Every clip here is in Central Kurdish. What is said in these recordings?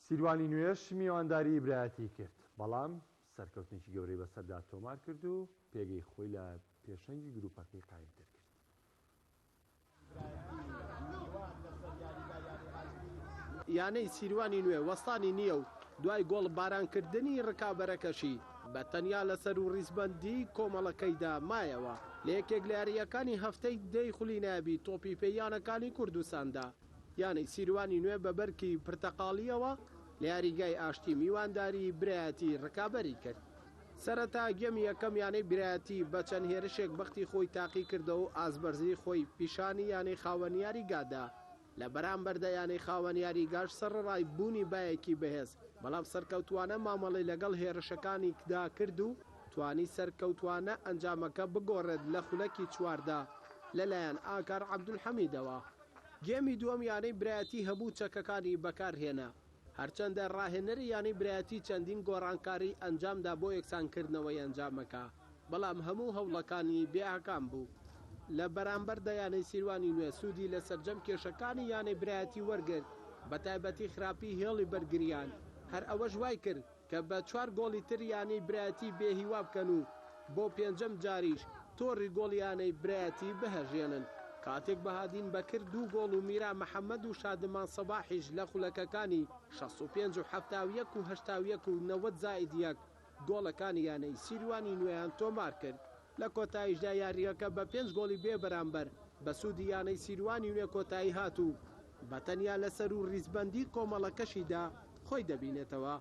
سیروانی نوێش میوانداریی برایەتی کرد، بەڵام سەرکەوتنێکی گەورەی بەسەردا تۆمار کرد و پێگەی خۆی لە پێشەنگی گرووپەکەی قایمتر کرد. یانەی سیروانی نوێ وەستانی نییە و دوای گۆڵبارانکردنی رکابەرەکەشی بە تەنیا لەسەر و ریزبەندیی کۆمەڵەکەیدا مایەوە لە یەکێک لە یارییەکانی هەفتەی دەی خولی نایابی تۆپی پێی یانەکانی کوردستاندا. یانەی سیروانی نوێ بە بەرگی پرتەقاڵییەوە لە یاریگای ئاشتی میوانداری برایەتی رکابەری کرد. سەرەتا گێمی یەکەم یانەی برایەتی بە چەند هێرشێک بەختی خۆی تاقیکردەوە و ئازبەرزی خۆی پیشانی یانەی خاوەن یاریگا دا، لە بەرامبەردا یانەی خاوەن یاریگاش سەرەڕای بوونی بایەکی بەهێز بەڵام سەرکەوتووانە مامەڵەی لەگەڵ هێرشەکانیکدا کرد و توانی سەرکەوتووانە ئەنجامەکە بگۆڕێت لە خولەکی چواردا لەلایەن ئاکار عەبدولحەمیدەوە گێمی دووەم یانەی برایەتی هەموو چەکەکانی بەکارهێنا، هەرچەندە راهێنەری یانەی برایەتی چەندین گۆڕانکاری ئەنجامدا بۆ یەکسانکردنەوەی ئەنجامەکە، بەڵام هەموو هەوڵەکانی بێ ئاکام بوو، لە بەرامبەردا یانەی سیروانی نوێ سوودی لە سەرجەم کێشەکانی یانەی برایەتی وەرگرت، بەتایبەتی خراپی هێڵی بەرگرییان، هەر ئەوەش وایکرد، کە بە چوار گۆڵی تر یانەی برایەتی بێ هیوا بکەن و بۆ پێنجەم جاریش تۆڕی گۆڵ یانەی برایەتی بهەژێنن، کاتێک بەهادین بەکر دوو گۆڵ و میرا محەمەد و شادمان سەباحیش لە خولەکەکانی شەست و پێنج و حەفتا و یەک و هەشتا و یەک و نەوەد زائید یەک گۆڵەکانی یانەی سیروانی نوێیان تۆمارکرد. لە کۆتاییشدا یارییەکە بە پێنج گۆڵی بێ بەرامبەر بە سوودی یانەی سیروانی نوێ کۆتایی هات و بە تەنیا لە سەروو ریزبەندیی کۆمەڵەکەشیدا خۆی دەبینێتەوە.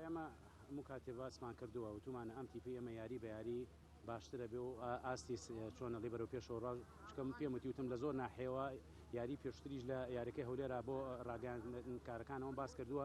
ئێمە هەموو کاتێ باسمان کردووە، وتوومانە ئەم تیپی ئێمە یاری بە یاری باشتر ئەبێ و ئاستی چۆنە لێ بەرەو پێشەوە ڕا چونکە من پێم وتیوتم لە زۆر ناحیەوە یاری پێشووتریش لە یارییەکەی هەولێرا بۆ ڕاگەیاندنکارەکانەوەم باس کردووە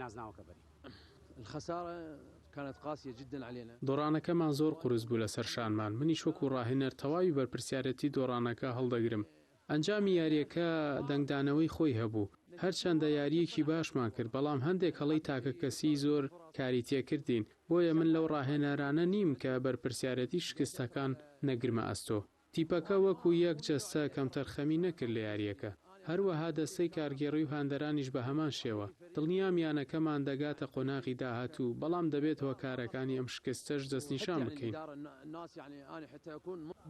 نازناوەکە بەری. الخسارە کانت قاسیە جدا علینا. دۆڕانەکەمان زۆر قورس بوو لەسەر شانمان، منیش وەکو ڕاهێنەر تەواوی بەرپرسیارێتی دۆڕانەکە هەڵدەگرم. ئەنجامی یارییەکە دەنگدانەوەی خۆی هەبوو، هەرچەندە یارییەکی باشمان کرد، بەڵام هەندێک هەڵەی تاکەکەسیی زۆر کاری تێکردین، بۆیە من لەو ڕاهێنەرانە نیم کە بەرپرسیارێتی شکستەکان نەگرمە ئەستۆ. تیپەکە وەکو یەک جەستە کەمتەرخەمی نەکرد لە یارییەکە، هەروەها دەستەی کارگێڕی و هاندەرانیش بە هەمان شێوە، دڵنیام یانەکەمان دەگاتە قۆناغی داهاتوو، بەڵام دەبێت هۆکارەکانی ئەم شکستەش دەستنیشان بکەین.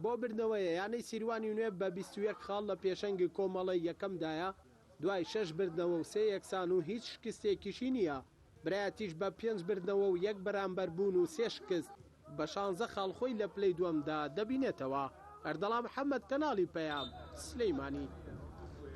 بۆ بردنەوەیە، یانەی سیروانی نوێ بە بیست و یەک خاڵ لە پێشەنگی کۆمەڵەی یەکەمدایە، دوای شەش بردنەوە و سێ یەکسان و هیچ شکستێکیشی نییە. برایەتیش بە پێنج بردنەوە و یەک بەرامبەربوون و سێ شکست، بە شانزە خاڵ خۆی لە پلەی دووەمدا دەبینێتەوە. ئەردەڵا محەمەد، کەناڵی پەیام، سلێمانی.